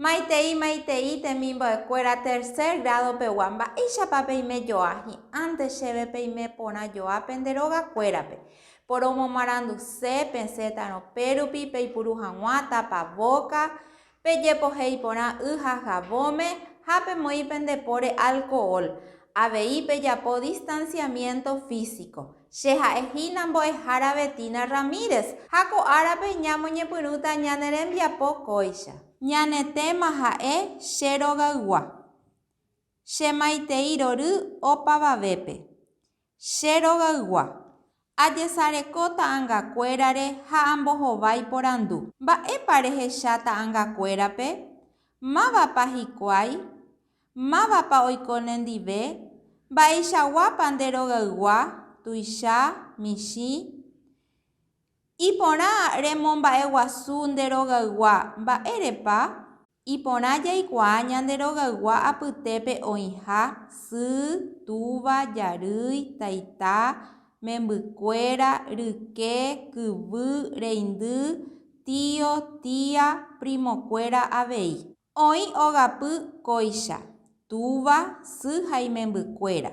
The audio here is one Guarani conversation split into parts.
Maitei, maitei temimbo'ekuéra tercer grado pegua, mba'éichapa peime joa, hi'ãnte chéve peime porã joa pende róga kuérape. Poromomaranduse, pesẽtarõ pérupi, peipuru hag̃ua tapa vóka, Pejepohéi porã y ha javóme ha pemoĩ pende póre alkohol. Avei pejapo distanciamiento físico. Che ha'e hína mbo'ehára Betina Ramírez, ha ko árape ñamoñepyrũta ñane rembiapo kóicha. Ñane téma ha'e Che rogaygua. Che maitei rory opavavépe. Che rogaygua, ajesareko ta'angakuérare ha ambohovái porandu, Mba'épa rehecha ta'angakuérape? Mávapa hikuái? Mávapa oiko nendive? Mba'eichaguápa nde rogaygua, tuicha, michĩ? Iporã remomba'eguasu nde rogaygua, mba'érepa? Iporã jaikuaa ñande rogaygua apytépe oĩha, sy, túva, jarýi, taita, membykuéra, ryke, kyvy, reindy, tío, tía, primokuéra avei. Oĩ ogapy kóicha, túva, sy ha imembykuéra,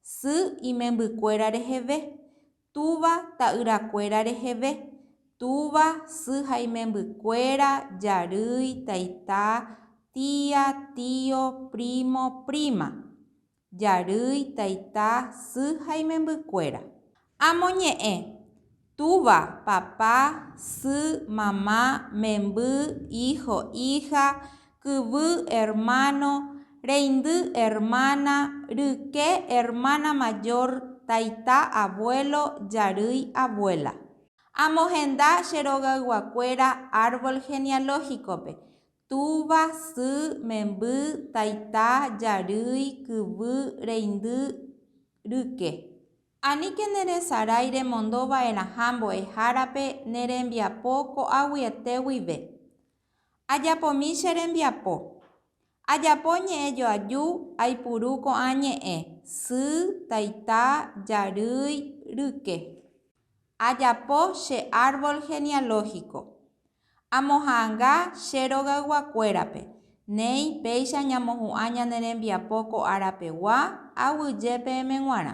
sy, imembykuéra reheve, Túva ta'yrakuéra reheve, túva, sy ha imembykuéra, jarýi, taita, tía, tío, primo, prima. Jarýi, taita, sy ha imembykuéra. Amo ñe'ẽ, túva, papá, sy, mamá, memby, hijo, hija, kyvy ermáno, reindy ermána, ryke ermána majór, taita avuélo, jarýi avuéla. Amohenda che rogayguakuéra árvol genealógikope, túva, sy, memby, taita, jarýi, kyvy, reindy, ryke. Aníke neresarái remondo va'erãha mbo'ehárape ne rembiapo ko'águi ete guive. Ajapomi che rembiapo. Ajapo ñe'ẽ joaju aipuru ko'ã ñe'ẽ, sy, taita, jarýi, ryke. Ajapo che árbol genealógico. Amoha'ãnga che rogayguakuérape, néi péicha ñamohu'ã ñane rembiapo ko ára pegua, aguyje peẽme g̃uarã.